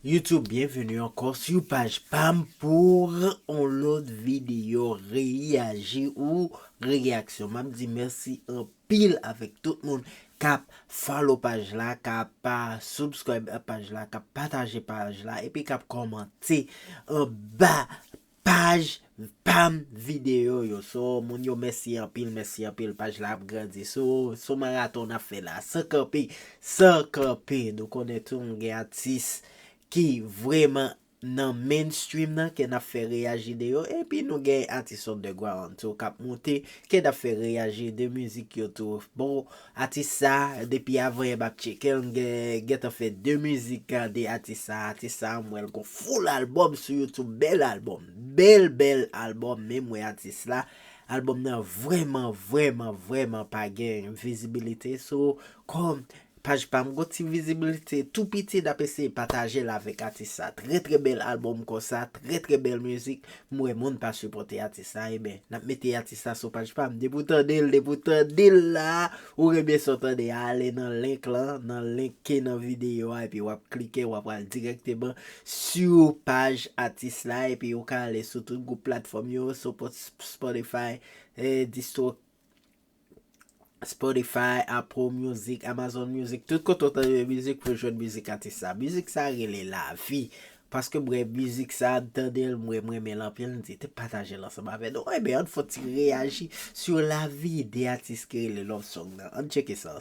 YouTube byenveni ankò su paj pam pour on lòt videyo reyaji ou reyaksyon map di mèsi anpil avèk tout moun kap follow paj la kap pa subscribe paj la kap pataje paj la epi kap kòmante anba Paj pam video yo so moun yo mèsi anpil mèsi anpil paj la ap grandi so son maraton nap fè la san kanpe san kanpe nou konnen tou nou gen atis ki vrèman nan main stream nan ke nap fè reyaji de yo epi nou gen atis underground tou kap moute ke nap fè reyaji de mizik yo tou bon Atis sa depi avan yè map tchekel m gentan fè 2 mizik gade atis sa atis sa m wèl gon full album sou youtube bèl album bèl bèl album menm wè atis la album nan vrèman vrèman vrèman pa gen vizibilite sou kòm paj pam gon ti vizibilite tou piti nap eseye patajel avèk atis sa trè trè bèl album konsa trè trè bèl mizik M wè moun pa sipòte atis la eben nap mete atis la sou paj pam depi w tande l depi w tande l la ou renmen sa w tande a ale nan link lan nan link ki nan videyo a epi wap klike wap pral dirèkteman sou paj atis la epi ou ka ale sou tout gwoup platfòm yo sou spotify, distro Spotify, Apple music, Amazon music, tout kote ou tande mizik pou jwenn mizik atis sa. Mizik sa rele lavi. Paske mwen mizik sa m tande l mwen m renmen l anpil m di te pataje l ansanm avè nou. Enben an n fon ti reyaji sou lavi de atis ki rele Love Song nan. An n tcheke sa.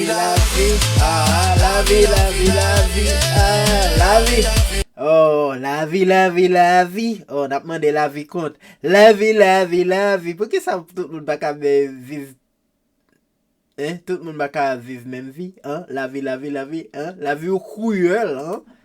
Lavi ah lavi lavi lavi ah lavi oh lavi lavi lavi oh nap mande lavi kont lavi lavi lavi poukisa tout moun paka viv hein tout moun paka viv menm vi hein lavi lavi lavi hein lavi ou kriyèl hein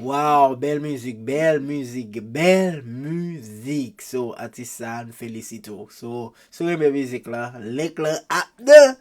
Waw bèl mizik bèl mizik bèl mizik so atis sa a nou felisite w so sou renmen mizik la link lan ap nan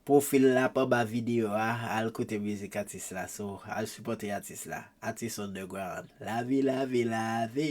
pwofil la ap anba videyo a al koute mizik atis la so al sipòte atis la atis underground lavi lavi lavi.